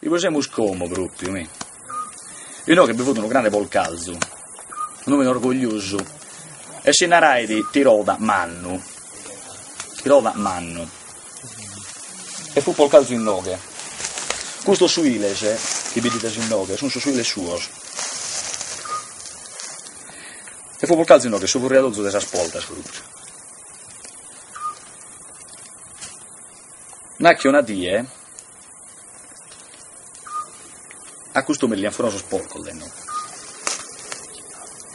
Igue semus como, pròpiu, mi. Inoghe bi fut unu grande polcalzu, un òmine orgogliosu e si narait Tiroda mannu, Tiroda mannu, e fut polcalzu inoghe. Custos suiles chi bidides inoghe sunt sos suiles suos. E fut polcalzu inoghe su furriadolzu de sas portas, pròpiu. Nache una die A custu mi li an furadu sos porcos, e na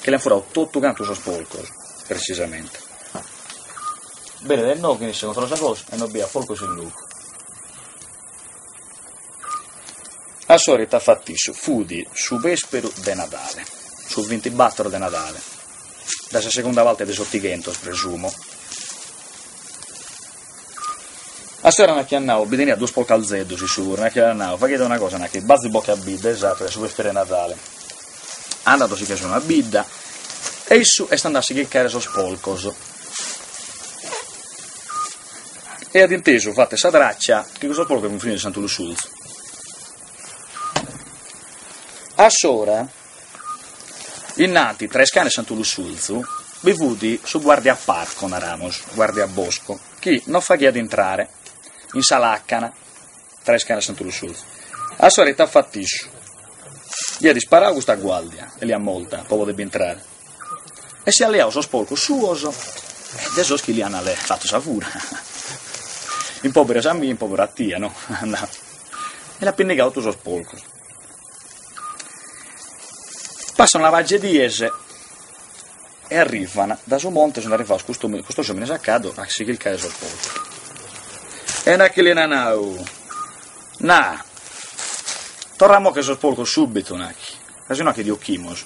chi li an furadu totu cantu sos porcos, precisamente. Benit e na chi controllat sa cosa e no b'hiat porcos in locu. Assora ite at fatu issu, fudi su vesperu de Nadale, su vintibattor de Nadale, da sa segunda parte de s'Ottighentos, presumo. A s'ora na ch'at nau, bi teniat duos porcalzeddus issu puru, na ch'at nau, faghede una cosa, na chi, bazi boche a bidda, esatu, su pesperu 'e Nadale, andaos si che sunu a bidda, e issu est andau a si chircare sos porcos, e at intesu, fatt'e sa traccia, chi cussos porcos funt finidos in Santu Lussurzu. A s'ora Innanti, tra Iscanu e Santu Lussurzu bi fut su guardiaparco, naramus, guardiabosco, chi non faghiat intrare in sa làcana tra Iscanu e Santu Lussurzu. Assora ite at fatu issu, li at isparau custa guàrdia e l'at morta pro poder intrare, e si at leau sos porcos suos e de sos chi li ant fatu sa fura, in pòberu a sa mia, in pòberu a tia, no? e l'at pinnigau totu sos porcos. Passant una pagia 'e dies e arrivant, da su monte sunt arrivados custu custos omines a caddu a si chircare sos porcos. E na chi li an nadu, Na, torra moche sos porcos subitu, na chi, ca si no na chi ti occhimus.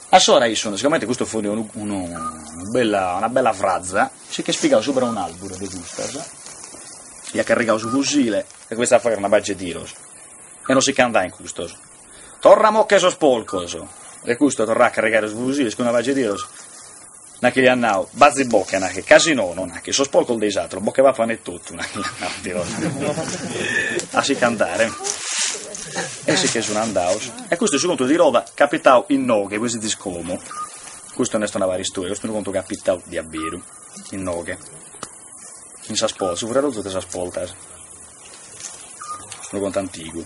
Assora issu, no, sigomente custu fut unu unu unu bella una bella fraza, si ch'est pigadu subra 'e un'alburu de custas e at carrigadu su fusile e cominzat a fagher una pagia 'e tiros E non si che andhaint custos. Torra mo che sos porcos! E custu torrait a carregare su fusile cun una pagia 'e tiros, na chi l'hiat nau, Bazi bocche, na chi, ca si no, no na chi, sos porcos de is atros, bocche papan e totu, na chi l'hiat nau Tiroda. A si che andare. E si che sun andhados. E custu est su contu de Tiroda capitau innoghe, voi zidis como. Custu non est una paristoria, custu est unu contu capitau diaberu, innoghe. in sas poltas, su furriadolzu de sas poltas, unu contu antigu.